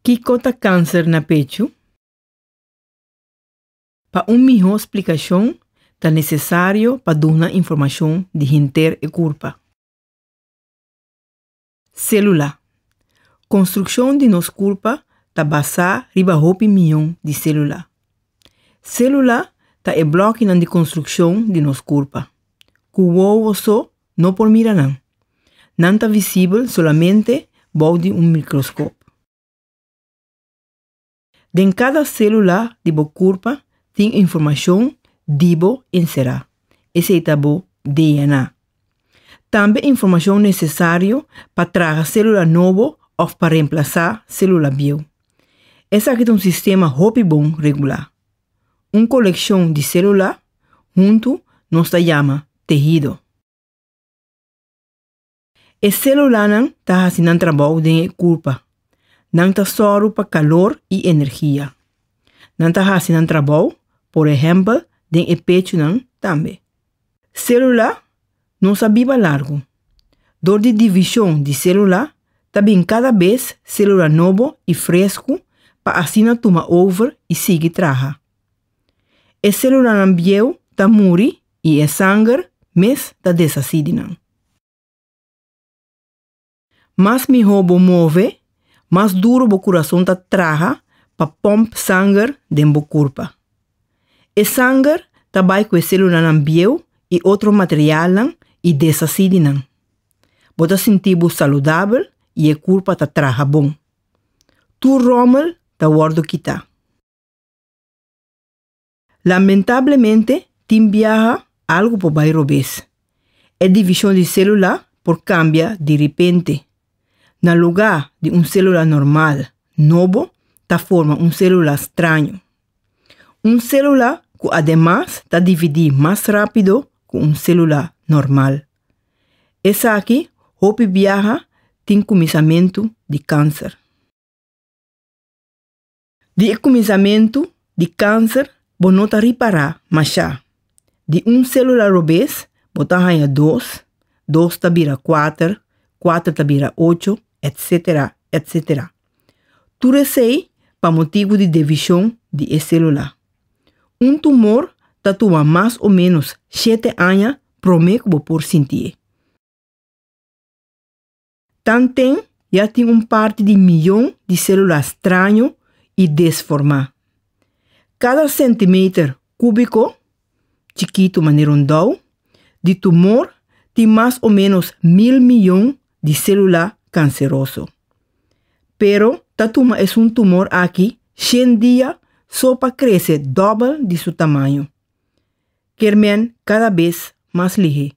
Kiko ta kanser na pechu? Pa un mihó splikashon ta nesesario pa duna informashon di henter e kurpa. Sélula. Konstrukshon di nos kurpa ta basá riba hopi miyon di sélula. Sélula ta e blòkinan di konstrukshon di nos kurpa, ku wowo so no por mira nan. Nan ta visibel solamente bou di un mikroskop. Den kada sélula di bo kurpa tin informashon di bo enserá, esei ta bo DNA. Tambe informashon nesesario pa traha sélula nobo òf pa remplasá sélula bieu. Esaki ta un sistema hopi bon regulá. Un kolekshon di selulá huntu nos ta yama tehido. E selulanan ta hasi nan trabou den e kurpa. Nan ta sòru pa kalor i energia. Nan ta hasi nan trabou, por ehèmpel, den e pechunan tambe. Célula nos a biba largu. Dor di divishon di célula ta bin kada bes célula nobo i fresku pa asina tuma over i sigui traha. E célulanan bieu ta muri i e sanger mes ta deshasí di nan. Mas mihó bo move, mas duru bo kurason ta traha pa pòmp sanger den bo kurpa. E sanger ta bai ku e selulanan bieu i otro materialnan i deshasí di nan. Bo ta sinti bo saludabel i e kurpa ta traha bon. Tur ròmel ta wòrdu kitá. Lamentablemente tin biaha algu por bai robes. E division di celula por cambia di ripente. Na luga di un celula normal, nobo ta forma un celula straño. Un celula cu ademas ta dividi mas rapido cu un celula normal. Esaki hopi biaha tin cuminsamentu di cancer. Di e kuminsamentu di kanser bo no ta ripará mashá. Di un sélula robes bo ta haña dos, dos ta bira kuater, kuater ta bira ocho, etsetera, etsetera. Tur esei pa motibu di devishon di e sélula. Un tumor ta tuma mas o ménos shete aña promé ku bo por sintié. Tanten ya tin un parti di miyon di sélula straño i desformá. Kada sentimeter kúbiko, chikitu manera un dou, di tumor tin mas o ménos mil miyon di sélula kanseroso. Pero ta tuma esun tumor aki shen dia so pa krese dòbel di su tamaño. Kermen kada bes mas lihé.